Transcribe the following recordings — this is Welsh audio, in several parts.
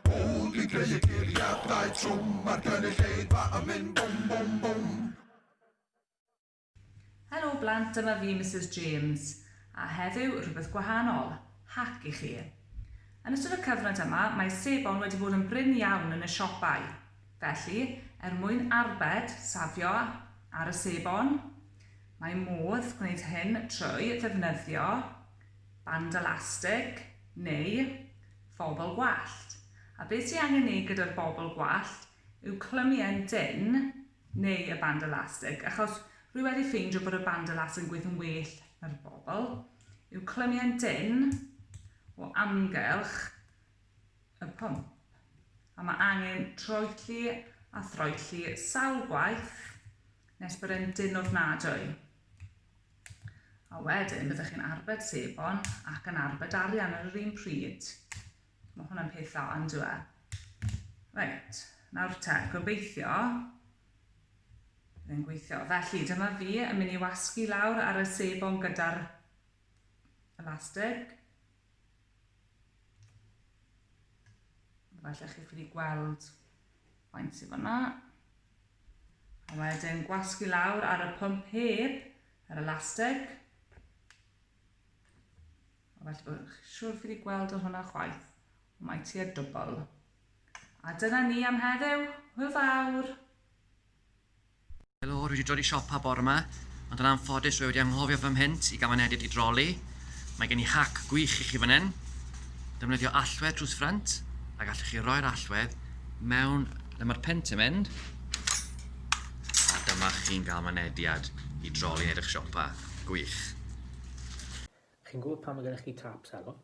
Bwl dwi'n creu y geiriadau trwm Mae'r gynulleidfa yn mynd bwm bwm bwm. Helo blant dyma fi Misus James a heddiw rhywbeth gwahanol, hac i chi. Yn ystod y cyfnod yma mae sebon wedi bod yn brin iawn yn y siopau, felly er mwyn arbed, safio, ar y sebon, mae modd gwneud hyn trwy ddefnyddio band elastig neu Phobl gwallt. A be ti angen neud gyda'r bobl gwallt yw clymu e'n dynn, neu y band elastig, achos rwy wedi ffeindio bod y band elastig yn gweithio'n well na'r bobl, yw clymu e'n dynn o amgylch y pwmp. A mae angen troelli a throelli sawl gwaith nes bod e'n dynn ofnadwy. A wedyn byddwch chi'n arbed sebon ac yn arbed arian ar yr un pryd. Mae hwnna'n peth dda, yn dweud. Reit, nawr te, gobeithio bydd e'n gweithio. Felly, dyma fi yn mynd i wasgu lawr ar y sebon gyda'r elastig. Falle chi'n ffili gweld faint sydd fanna. A wedyn gwasgu lawr ar y pump heb yr elastig. A felly bod chi'n siŵr ffili gweld o hwnna chwaith. Mae ti a dwbl. A dyna ni am heddiw. Hwyl fawr! Helo, dwi wedi dod i siopa bore yma, ond yn anffodus dwi wedi anghofio fy mhent i gaman edit i droli. Mae gen i hac gwych i chi fan hyn. Defnyddio allwedd drws ffrynt, a gallwch chi roi'r allwedd mewn lle mae'r pent yn mynd, a dyma chi'n cael mynediad i droli yn edrych siopa. Gwych. Chi'n gwybod pan mae gennych chi tap selo,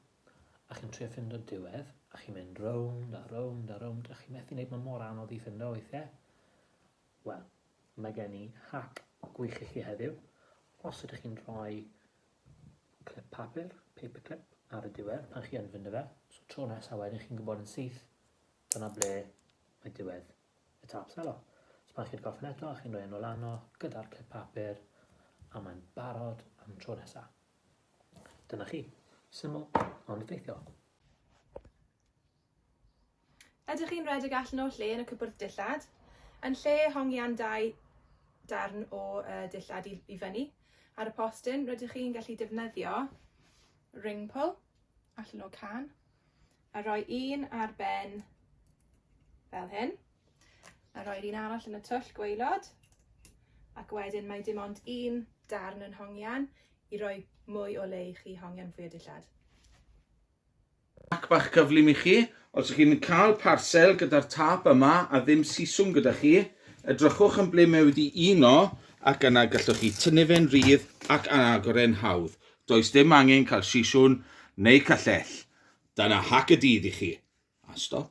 a chi'n trio ffindo diwedd, a chi'n mynd rownd a rownd a rownd, a chi methu wneud, mae mor anodd i ffindo weithiau. Wel, mae gen i hac gwych i chi heddiw. Os ydych chi'n rhoi clip papur, paper clip, ar y diwedd pan chi yn fynd y fe, so tro nesaf wedyn chi'n gwybod yn syth, dyna ble mae diwedd y tap selo. So pan chi'n gorffen eto, chi'n rhoi yn ôl arno gyda'r clip papur, a mae'n barod am tro nesaf. Dyna chi. Syml, ond effeithiol. Ydych chi'n rhedeg allan o'r lle yn y cwbwrdd dillad? Yn lle hongian dau darn o uh, dillad i, i fyny ar y postyn, rydych chi'n gallu defnyddio ring pull allan o can a rhoi un ar ben fel hyn a rhoi'r un arall yn y twll gweilod ac wedyn mae dim ond un darn yn hongian i roi mwy o le i chi hongian fwy o dillad. Hack bach cyflym i chi, os ych chi'n cael parsel gyda'r tâp yma a ddim siswm gyda chi, edrychwch yn ble mae wedi uno ac yna gallwch chi tynnu fe'n rhydd ac agor e'n hawdd. Does dim angen cael siswm neu callell. Dyna hack y dydd i chi. A stop.